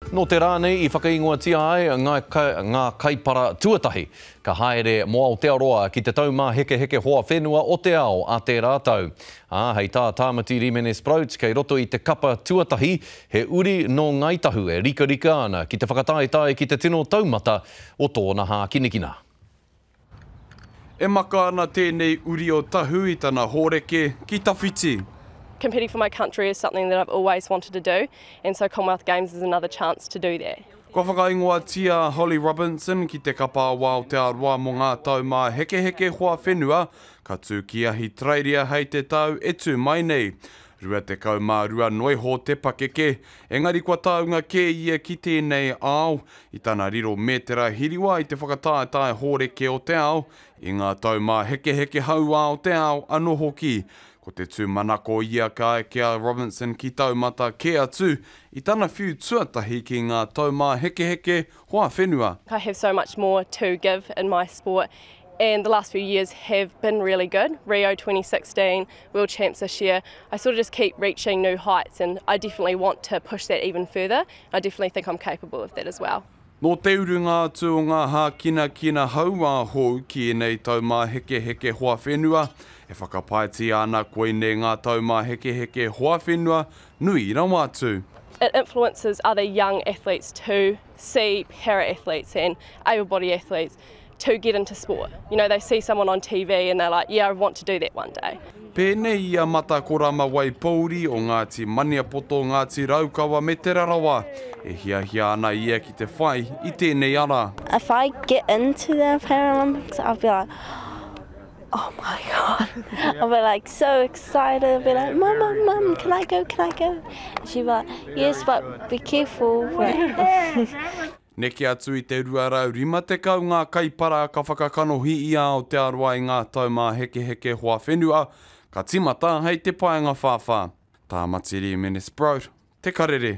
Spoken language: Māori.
Nō te rā nei i whakaingoatia ai ngā kaipara tuatahi ka haere mō Aotearoa ki te taumāhekeheke hoa whenua o te ao a tērā tau. Ā, hei tā Tāmati Rīmene Sproats kei roto i te kapa tuatahi he uri nō Ngāi Tahu e rikarika ana ki te whakataetae ki te tino taumata o tōna hākinakina. E maka ana tēnei uri o Tahu i tana hōreke ki tawhiti. Competing for my country is something that I've always wanted to do and so Commonwealth Games is another chance to do that. Kua whakaingoatia a Holly Robinson ki te Kapa o Aotearoa mō ngā taumāhekeheke hoa whenua ka tū ki Ahitereiria hei te tau e tū mai nei. 22 noiho te pakeke, engari kua taunga kē ia ki tēnei ao, i tana riro mētera hiriwa i te whakataetae hōreke o te ao, i ngā taumāhekeheke hauā o te ao anō hoki. Ko te tūmanako ia ka eke a Robinson ki taumata kē atu i tana whiu tuatahi ki ngā taumāhekeheke hoa whenua. I have so much more to give in my sport and the last few years have been really good, Rio 2016, World Champs this year, I sort of just keep reaching new heights and I definitely want to push that even further, I definitely think I'm capable of that as well. Nō te urunga atu o ngā hākinakina hauā hou ki ēnei taumāhekeheke hoa whenua, e whakapaetia ana koinei ngā taumāhekeheke hoa whenua nui rawa atu. It influences other young athletes to see para-athletes and able-body athletes to get into sport. You know, they see someone on TV and they're like, yeah, I want to do that one day. Pēnei i a Matakorama Waipouri o Ngāti Maniapoto, Ngāti Raukawa me Te Rarawa, e hiahia ana ia ki te whai i tēnei ara. If I get into the Paralympics, I'll be like, Oh my God. I'll be like so excited. I'll be like, Mum, Mum, Mum, can I go? Can I go? And she'll be like, Yes, but be careful. Neke atu i te 250 ngā kaipara ka whakakanohi i a Aotearoa i ngā taumāhekeheke hoa whenua ka tīmata hei te paenga whāwhā. Tāmatiri Minnesbrote, Te Karere.